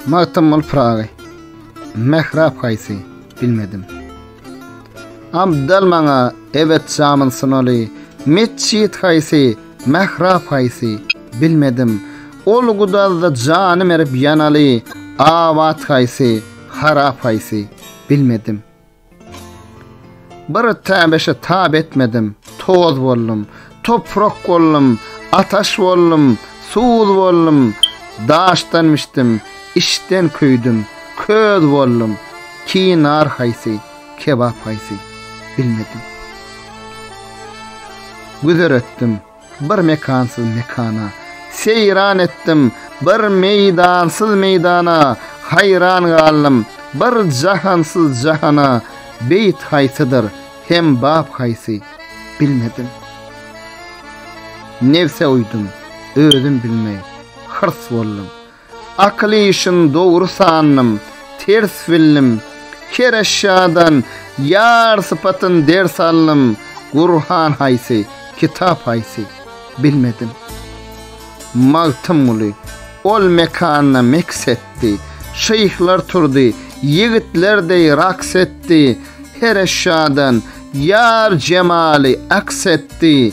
Magtymguly Pyragy Mährap haýsy bilmedim. Abdal maňa ebet şamyn sunaly Metjit haýsy Mährap haýsy bilmedim. Ol gudazda jany merip ýanaly Abat haýsy harap haýsy bilmedim. Bir täbeşe tab etmedim, toz boldum, toprak boldum, ataş boldum, suz boldum, daşdan bişdim, içden köýdüm, köz boldum, ki nar haýsy, kebap haýsy, bilmedim. Güzer etdim. Bir mekansyz mekana Seýran etdim bir meýdansyz meýdana Haýran galdym bir jahansyz jahana Beýit haýsydyr hem bap haýsy, bilmedim. Nebse uýdum, özüm bilmeý, hyrs boldum. Akyl işin dogry sandym, ters bildim. Her eşýadan ýar sypatyn ders aldym, Gurhan haýsy, kitap haýsy, bilmedim. Magtymguly, Ol mekanda meks etdi, Şyhlar turdy, ýigitler deý raks etdi, Her eşýadan ýar jemaly aks etdi,